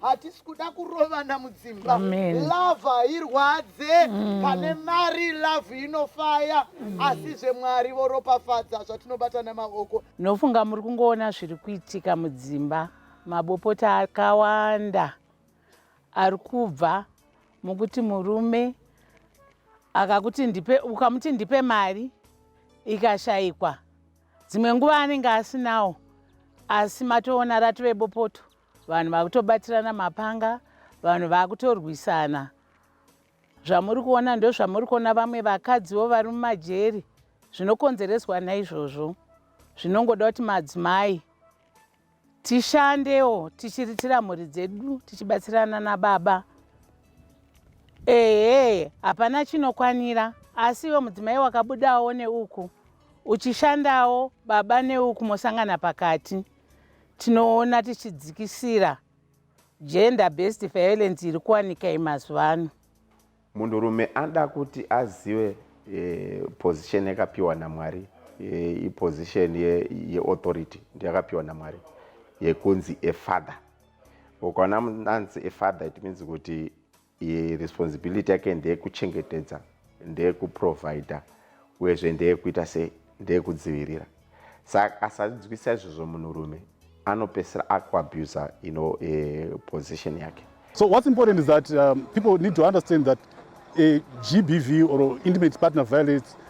hatisi kuda kurovana mudzimba love hairwadze mm. pane mari love inofaya mm. asi zvemwari voropafadza zvatinobata nemaoko nofunga muri kungoona zviri kuitika mudzimba mabopota akawanda ari kubva mukuti murume akakuti ndipe ukamuti ndipe mari ikashayikwa dzimwe nguva anenge asinawo asi matoona ratove bopoto Vanhu vakutobatirana mapanga, vanhu vakutorwisana. Zvamuri kuona ndozvamuri kuona vamwe vakadziwo vari mumajeri zvinokonzereswa naizvozvo. Zvinongoda kuti madzimai tishandewo tichiritira mhuri dzedu tichibatsirana nababa ehe hapana chinokwanira asi iwe mudzimai wakabudawo neuku uchishandawo baba neuku mosangana pakati Tinoona tichidzikisira gender based violence iri kuwanika imazuva ano. Munhurume anoda kuti azive eh, position yakapiwa naMwari eh, iposition yeauthority ye ndiyakapiwa naMwari yekunzi a father. Ukaona anzi a father it means kuti responsibility yake ndeyekuchengetedza ndeyekuprovider uyezve ndeyekuita sei ndeyekudzivirira saka asanzwisa izvozvo munhurume anopesera akuabuser you know, uh, position yake so what's important is that um, people need to understand that a gbv or intimate partner violence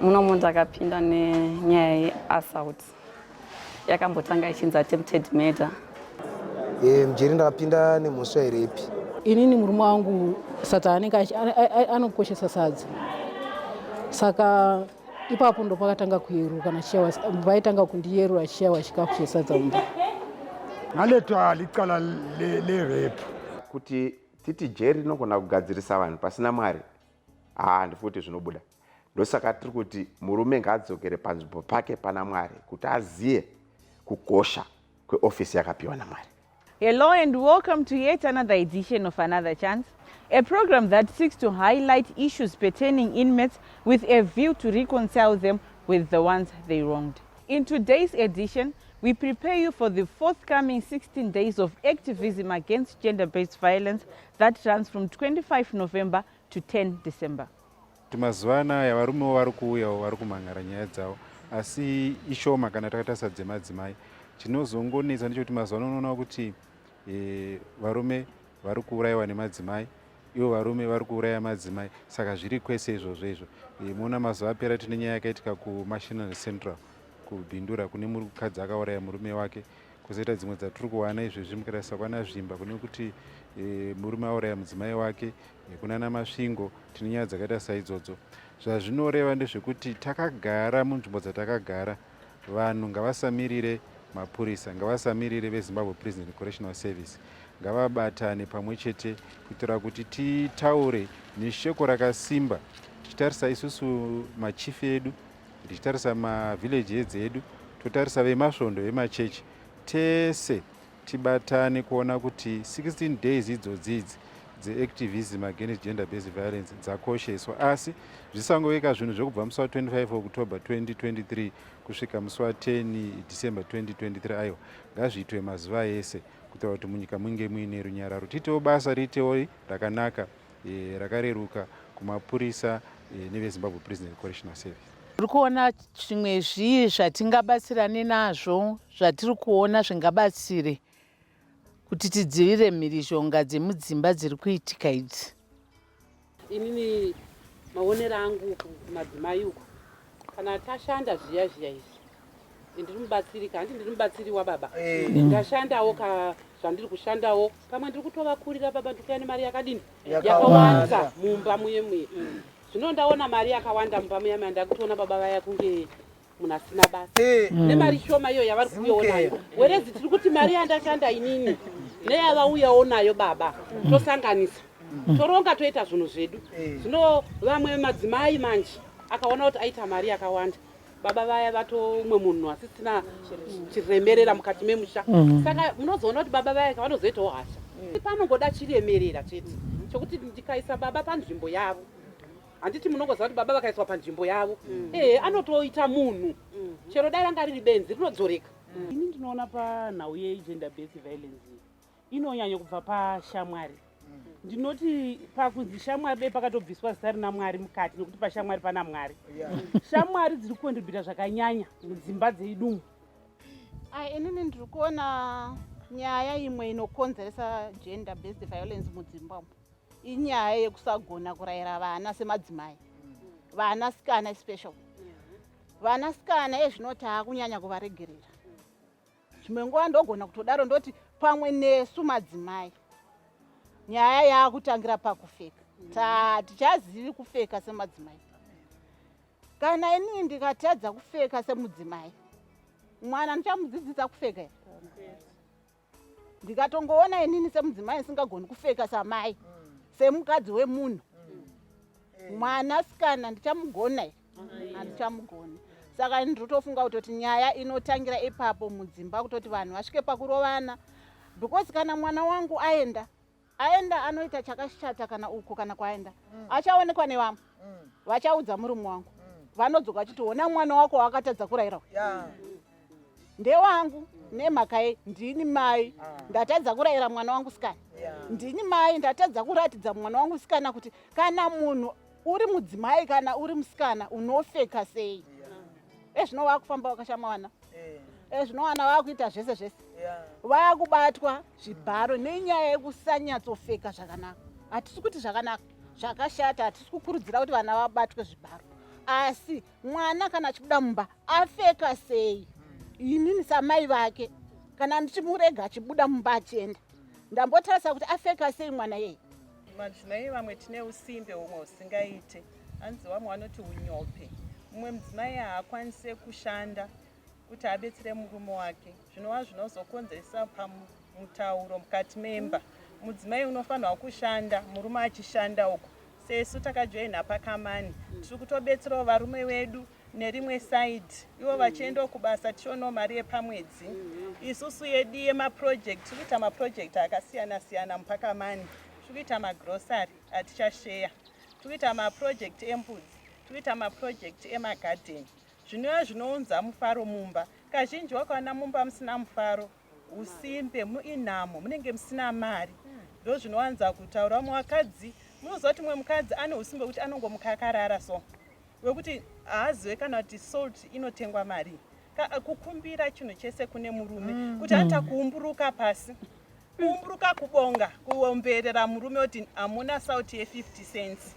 muno munhu ndakapinda nenyaya yeassault yakambotanga ichinzi attempted murder e, mjeri ndakapinda nemhosva here ipi inini murume wangu sata anenge anokoshesa sadza saka ipapo ndo pakatanga kuyeruka nachiyawa vaitanga kundiyerura achiyawa chikafu chesadza mumba ngaletwa licala lerepu kuti titi jeri rinogona kugadzirisa vanhu pasina mwari haa ndifuti zvinobuda ndosaka tiri kuti murume ngaadzokere panzvimbo pake pana mwari kuti azive kukosha kweofisi yakapiwa namwari hello and welcome to yet another edition of another chance a program that seeks to highlight issues pertaining inmates with a view to reconcile them with the ones they wronged in today's edition we prepare you for the forthcoming 16 days of activism against gender-based violence That runs from 25 November to 10 December. Mazuva anaya varumewo vari kuuyawo vari kumhan'ara nyaya dzavo asi ishoma kana takatarisa dzemadzimai. Chinozongonetsa ndechekuti mazuva ano unoona kuti e, varume vari kuurayiwa nemadzimai ivo varume vari kuuraya madzimai saka zviri kwese izvozvo izvo e, moona mazuva apera tine nyaya yakaitika kumashinal central kubhindura kune mukadzi akauraya murume wake kozoita dzimwe dzatiri kuwana izvezvi mukatarisa kwana zvimba kune kuti e, murume auraya mudzimai wake e, kunana masvingo tine nyaya dzakaita saidzodzo zvazvinoreva ndezvekuti takagara munzvimbo dzatakagara vanhu ngavasamirire mapurisa ngavasamirire vezimbabwe prison and correctional service ngavabatane pamwe chete kuitira kuti titaure neshoko rakasimba tichitarisa isusu machifi edu ndichitarisa mavillage heads edu totarisa vemasvondo vemachechi tese tibatane kuona kuti 16 days idzodzidzi dzeactivism against gender based violence dzakosheswa asi zvisangoveka zvinhu zvekubva musi wa25 october 2023 kusvika musi wa10 december 2023 aiwa ngazviitwe mazuva ese kutaura kuti munyika munge muine runyararo tiitewo basa riitewo rakanaka e, rakareruka kumapurisa e, nevezimbabwe prison correctional service tiri kuona zvimwe zvii zvatingabatsirane nazvo zvatiri kuona zvingabatsire kuti tidzivirire mhirizhonga dzemudzimba dziri kuitika idzi inini maonero angu kumadzimai uku kana tashanda zviya zviya izvi ndiri mubatsiri ka hanti ndiri mubatsiri wababa eh. mm. ndashandawo ka zvandiri kushandawo pamwe ndiri kutovakurira baba ndiri kuya nemari yakadini yakawanda mumba muye muye mm. zvino ndaona mari yakawanda mumba muye muye ndakutoona baba vaya kunge munhu asina basa eh. mm. nemari shoma iyo yavari kuyoonayo werezi tiri kuti mari yandashanda inini neyavauyawo nayo baba tosanganisa toronga toita zvinhu zvedu zvino vamwe madzimai manje akaona kuti aita mari yakawanda baba vaya vatoumwe munhu asisina chiremerera mukati memusha mm. saka munozoona kuti baba vaya kavanozoitawo hasha mm. panongoda chiremerera chete chokuti ndikaisa baba panzvimbo yavo handiti munongoziva kuti baba vakaiswa panzvimbo yavo mm. ehe anotoita munhu mm. chero dai ranga riri benzi rinodzoreka mm. ini ndinoona panhau yegender based violence inonyanya kubva pashamwari mm. ndinoti pakunzi shamwari dai pakatobviswa zita rina mwari mukati nekuti pashamwari pana mwari shamwari dziri kukontribhuta zvakanyanya mudzimba dzeidumu ai inini ndiri kuona nyaya imwe inokonzeresa gender based violence mudzimba umu inyaya yekusagona kurayira vana semadzimai mm. vanasikana especial vanasikana ezvino taakunyanya kuvaregerera Zvimwe nguva ndogona kutodaro ndoti pamwe nesu madzimai nyaya yaakutangira pakufeka ta tichazivi kufeka semadzimai kana inini ndikatadza kufeka semudzimai mwana ndichamudzidzisa kufeka here ndikatongoona inini semudzimai ndisingagoni kufeka samai semukadzi wemunhu mwana sikana ndichamugona here handichamugoni saka ini ndrotofunga kutoti nyaya inotangira ipapo mudzimba kutoti vanhu vasvike pakurovana because kana mwana wangu aenda aenda anoita chakashata kana uko kana kwaenda mm. achaonekwa nevamwe mm. vachaudza murume wangu mm. vanodzoka vachiti ona mwana wako waakatadza kurayira yeah. ndewangu nemhaka ye ndini mai ah. ndatadza kurayira mwana wangu sikana ndini mai ndatadza kuratidza mwana wangu sikana kuti kana munhu uri mudzimai kana uri musikana unofeka sei ezvino eh, wakufamba wakashama wana ezvino eh. wana wakuita zvese zvese vakubatwa zvibharo nenyaya yekusanyatsofeka zvakanaka hatisi kuti zvakanaka zvakashata hatisi kukurudzira kuti vana vabatwe zvibharo asi mwana kana achibuda mumba afeka sei inini samai vake kana ndichimurega achibuda mumba achienda ndambotarisa kuti afeka sei mwana yeye Madzimai vamwe tine usimbe humwe husingaite. Hanzi vamwe vanoti unyope. Mumwe mudzimai haakwanise kushanda kuti abetsere murume wake zvinova zvinozokonzeresa pamutauro mukati memba. Mudzimai unofanirwa kushanda murume achishanda uko. Sesu takajoina pakamani tiri kutobetserawo varume vedu nerimwe side ivo vachiendawo kubasa tichionawo mari yepamwedzi isusu yedu yemaproject tiri kuita maproject akasiyana siyana mupakamani tiri kuita magrocery atichasheya tiri kuita maproject embudzi tiri kuita maproject emagarden zvinova zvinounza mufaro mumba kazhinji wakaona mumba musina mufaro usimbe muinhamo munenge musina mari ndo zvinowanza kutaura vamwe vakadzi munoziva kuti mumwe mukadzi ane usimbe wekuti anongomuka akarara so wekuti haazive kana kuti salt inotengwa mari kukumbira chinhu chese kune murume mm. kuti ata mm. kuumburuka pasi kuumburuka kubonga kuomberera murume kuti hamuna salt ye 50 cents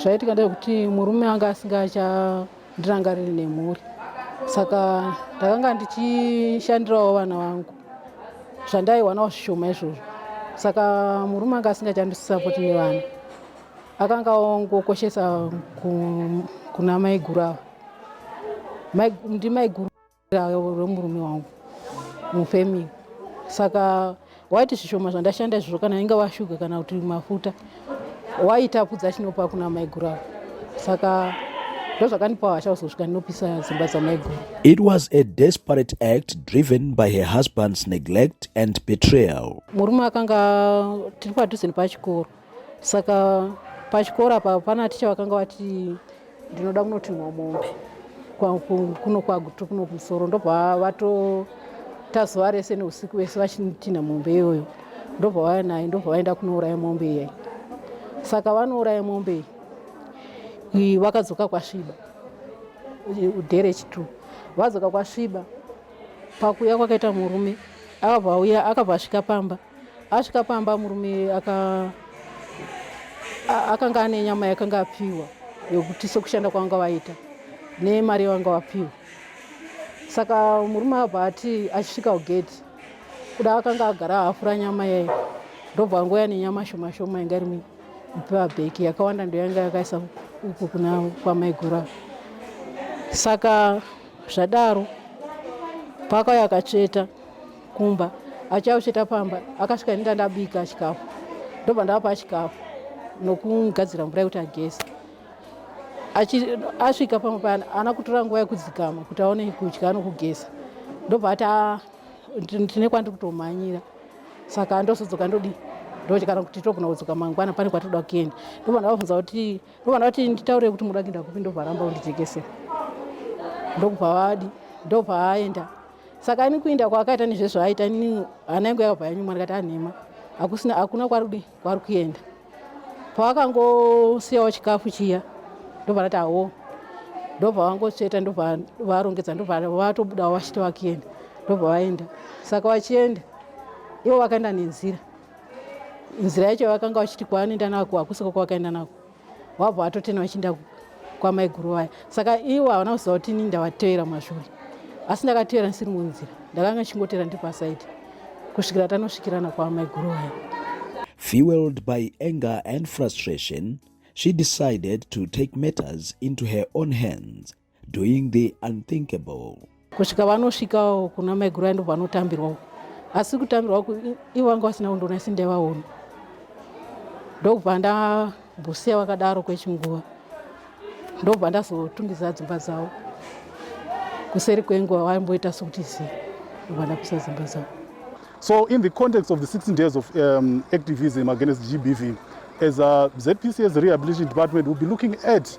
zvaitika ndezvekuti murume anga asingaachandirangariri nemhuri saka ndakanga ndichishandirawo vana vangu zvandaihwanawo zvishoma izvozvo saka murume anga asingachandisisapoti nevana akanga ongokoshesa kuna maiguru ava ndimaiguru remurume wangu mufamily saka waiti zvishoma zvandashanda izvozvo kana inga washuga kana kuti mafuta waitapudza achinopa kuna maiguru avo saka ndozvakandipa hasha kuzosvika ndinopisa dzimba dzamaiguru it was a desperate act driven by her husband's neglect and betrayal murume akanga tiri padhuze nepachikoro saka pachikoro apa pana ticha vakanga vati ndinoda kunotinhwa mombe kuno kwagutu kuno kumusoro ndobva vatota zuva rese neusiku vese vachitinha mombe iyoyo ndobva vaya naye ndobva vaenda kunouraya mombe iyai saka vanouraya mombe iyi vakadzoka kwasviba udhere chitu vadzoka kwasviba pakuya kwakaita murume akabva auya akabva asvika pamba Asvika pamba murume aka akanga ane nyama yakanga apiwa yokuti sokushanda kwavanga vaita nemari yavanga vapiwa saka murume abva ati achisvika kugedhi kuda akanga agara hafura nyama yayo ndobva angouya nenyama shoma shoma yanga iri mupabheki yakawanda ndoyanga yakaisa uku kuna kwamaigura saka zvadaro pakauya akatsveta kumba achausveta pamba akasvika ini ndandabika chikafu ndobva ndavapa chikafu nokumugadzira mvura yekuti ageze asvika pamwe payana ana kutora nguva yekudzikama kuti aone kudya nokugeza ndobva ati ah, tine kwandiri kutomhanyira saka ndozodzoka ndodii ndokuti kana kuti togona kudzoka mangwana pane kwatinoda kuenda ndobva ndavabvunza kuti ndobva ndavati nditaurire kuti munoda kuenda kupi ndobva aramba undijekese ndokubva vadi ndobva aenda saka ini kuinda kwaakaita nezvezvaaita ini hana yangu yakabva yanyuma ndikati anhema hakusina hakuna kwarudi kwari kuenda pavakangosiyawo chikafu chiya ndobva ndati awo ndobva vangotsveta ndobva varongedza ndobva vatobudawo vachiti vakienda ndobva vaenda saka vachienda ivo vakaenda nenzira nzira yacho vakanga vachiti kwaanoenda nako hakusiko kwavakaenda nako wabva watotena vachiinda kwamaiguru vaya saka iwo havana kuziva kuti ini ndavateera mazvuri asi ndakateera ndisiri munzira ndakanga ndichingoteera ndiri pasaidi kusvikira tanosvikirana kwamaiguru vaya fueled by anger and frustration she decided to take matters into her own hands doing the unthinkable kusvika vanosvikawo kuna maiguru ando vanotambirwawo asi kutambirwa ku ivo vanga vasina kundona isi ndaivaona ndokubva ndambusiya vakadaro kwechinguva ndokubva ndazotungidza dzimba dzavo kuseri kwenguva vaimboita sokuti zi ndokubva ndapisa dzimba dzavo so in the context of the 16 days of um, activism against gbv as a uh, zpcs rehabilitation department will be looking at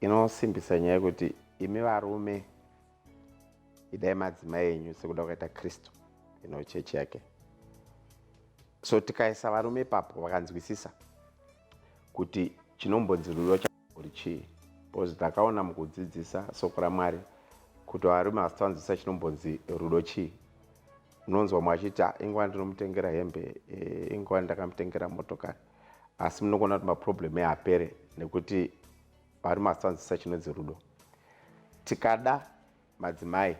Inosimbisa nyaya yekuti imi varume idai madzimai enyu sekuda kukaita kristu ino chechi yake so tikaisa varume ipapo vakanzwisisa kuti chinombonzi rudo chambori chii bcause takaona mukudzidzisa soko ramwari kuti varume vasitavanzwisisa chinombonzi rudo chii unonzwa mwachiti ah, inguva ndinomutengera hembe eh, inguva ndakamutengera motokari asi munokuona kuti maproblem eapere nekuti vari masanzisa chinonzi rudo tikada madzimai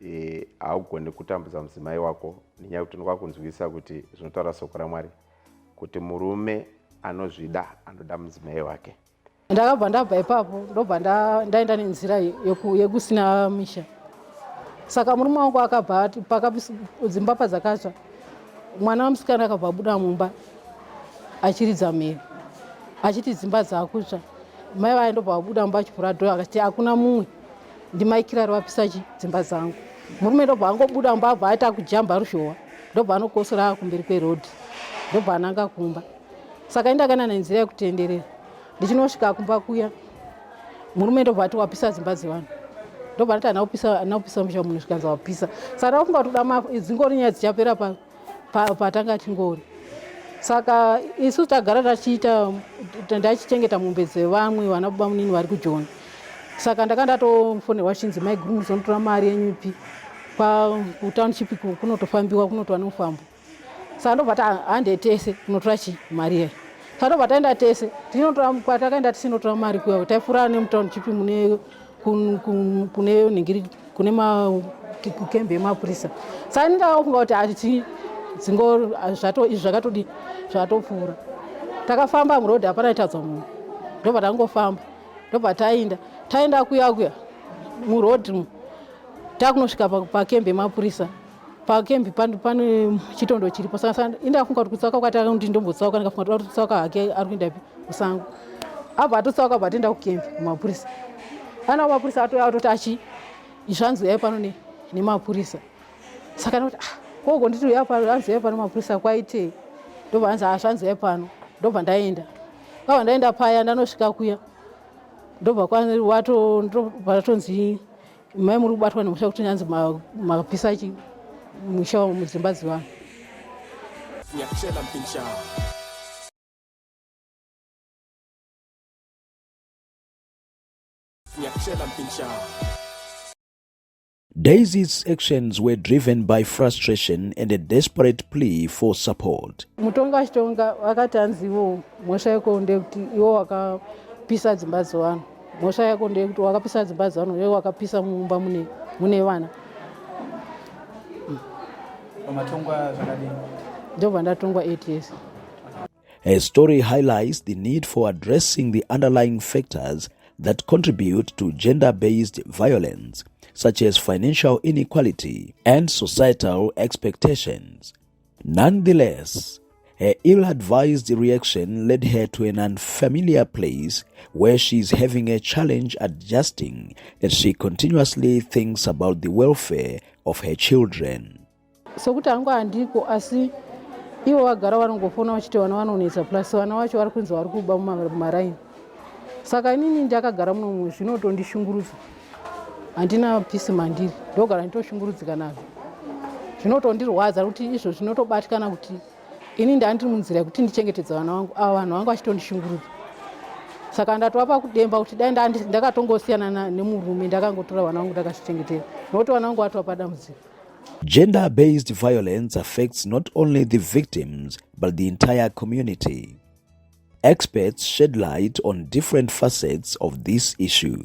e, haugone kutambudza mudzimai wako nenyaya yekuti ndokwakunzwisa kuti zvinotaura soko ramwari kuti murume anozvida anoda mudzimai wake ndakabva ndabva ipapo ndobva ndaenda nenzira yekusina misha saka murume wangu akabva dzimba padzakatsva mwana wamusikana akabva abuda mumba achiridza mhere achiti dzimba dzakutsva mai vaye ndobva vabuda mumba achivhura dho akati hakuna mumwe ndimaikirari vapisa chi dzimba dzangu murume ndobva angobuda mumba abva aita kujamba ruzhowa ndobva anokosora kumberi kwerodhi ndobva ananga kumba saka indakana nenzira yekutenderera ndichinosvika kumba kuya murume ndobva ati wapisa dzimba dzevanhu ndobva ndati ana upisa ana upisa musha munhu zvikanzi wapisa saka ndakufunga kuti kuda mafu dzingori nyaya dzichapera patanga tingori saka isu tagara tachiita ndachichengeta mombe dzevamwe vana baba munini vari kujoni saka ndaka ndatofonerwa chinzi maiguru muzonotora mari yenyupi kutownship kunotofambiwa kunotova nomufambo saka ndobva tahande tese kunotora chii mari iyoyo saka ndobva taenda tese tinotorakwatakaenda tisinotora mari kuya taifurana nemutown chipi mune kune ningiri kune makembe emapurisa saka ndindaofunga kuti ati dzingo zvato izvi zvakatodii zvatopfuura takafamba muroad hapana itadza munhu ndobva tangofamba ndobva tainda tainda kuya kuya muroad takunosvika pakembe emapurisa pakembi pano pane chitondo chiripo saka indafunga kuti kutsauka kwati kuti ndombotsauka ndikafunga kuti ari kutsauka hake ari kuenda pi musango abva atotsauka abva atoenda kukembi kumapurisa ana kumapurisa atouya atoti achi zvanzi uyai pano nemapurisa saka noti ah, koko nditi uyai pano anzi uyai pano mapurisa kwaitei ndobva anzi ah, zvanzi uyai pano ndobva ndaenda kwabva ndaenda paya ndanosvika kuya ndobva kwatonzi Mai muri kubatwa nemusha kuti nyanzi mapisa chi musha wa mudzimba dzivanhu. Nyachela mpincha. Nyachela mpincha. Daisy's actions were driven by frustration and a desperate plea for support. Mutonga achitonga vakati hanzi ivo mhosva yeko ndekuti ivo wakapisa dzimba dzevanhu. mhosva yako ndeyekuti wakapisa dzimba dzevana uye wakapisa mumba mune, mune vana pamatongwa zvakadini ndobva ndatongwa 8 years Her story highlights the need for addressing the underlying factors that contribute to gender based violence, such as financial inequality and societal expectations. Nonetheless, her ill advised reaction led her to an unfamiliar place where she is having a challenge adjusting as she continuously thinks about the welfare of her children. sokuti hangu handiko asi ivo vagara vanongofona vachiti vana vanonetsa plus vana vacho vari kunzi vari kuba mumaraini saka inini ndakagara muno mumwe zvinotondishungurudza handina pisi mandiri ndogara nditoshungurudzika nazvo zvinotondirwadza kuti izvo zvinotobatikana kuti ini ndandiri munzira yekuti ndichengetedza vana vangu ava vanhu vangu vachitondishungurudza saka ndatova pakudemba kuti dai ndakatongosiyana nemurume ndakangotora vana vangu ndakazvichengetera nokuti vana vangu vatova padambudziko Gender based violence affects not only the victims but the entire community. Experts shed light on different facets of this issue.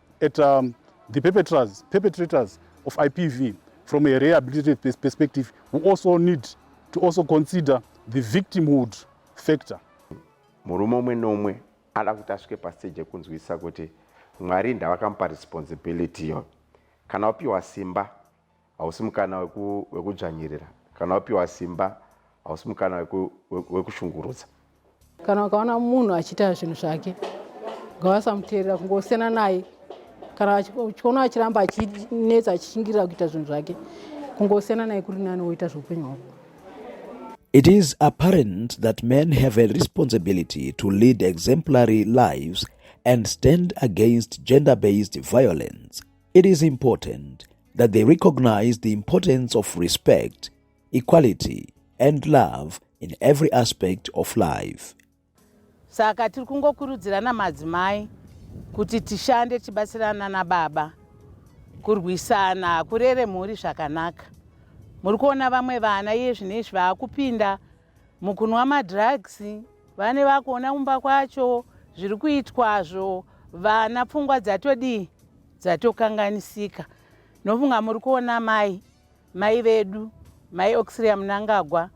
at um, the perpetrators, perpetrators of IPV from a rehabilitative pers perspective, we also need to also consider the victimhood factor. Murume umwe nomwe ada kuti asvike pastage yekunzwisisa kuti Mwari ndavakamupa responsibility yo. Kana wapiwa simba hausi mukana wekudzvanyirira kana wapiwa simba hausi mukana wekushungurudza kana ukaona munhu achiita zvinhu zvake ngavasamuteerera kungosiyana naye kana uchiona achiramba achinetsa achishingirira kuita zvinhu zvake kungosiyana naye kuri nani woita zveupenyu hwako It is apparent that men have a responsibility to lead exemplary lives and stand against gender based violence. It is important that they recognize the importance of respect, equality, and love in every aspect of life. Saka tiri kungokurudzirana madzimai kuti tishande tichibatsirana nababa kurwisana kurere mhuri zvakanaka. Muri kuona vamwe vana iye zvino izvi vaakupinda Mukunwa madrugs vane vakuona kumba kwacho zviri kuitwazvo vana pfungwa dzatodii dzatokanganisika nofunga muri kuona mai mai vedu mai oxiria munangagwa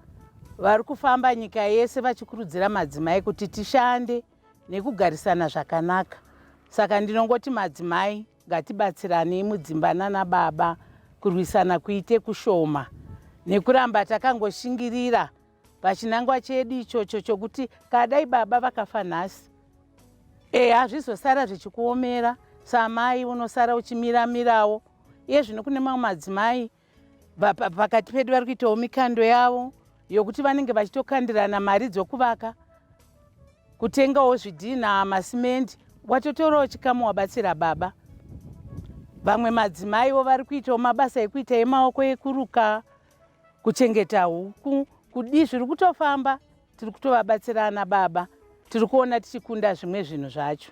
vari kufamba nyika yese vachikurudzira madzimai kuti tishande nekugarisana zvakanaka saka ndinongoti madzimai Ngatibatsiranei mudzimba nana baba kurwisana kuite kushoma nekuramba takangoshingirira pachinangwa chedu ichocho chokuti kadai baba vakafa nhasi e hazvizosara zvichikuomera samai unosara uchimiramirawo iye zvino kune mamwe madzimai pakati pedu vari kuitawo mikando yavo yokuti vanenge vachitokandirana mari dzokuvaka kutengawo zvidhinha masimendi watotorawo chikamu wabatsira baba vamwe madzimaiwo vari kuitawo mabasa ekuita emaoko ekuruka kuchengeta huku kudii zviri kutofamba tiri kutovabatsirana baba tiri kuona tichikunda zvimwe zvinhu zvacho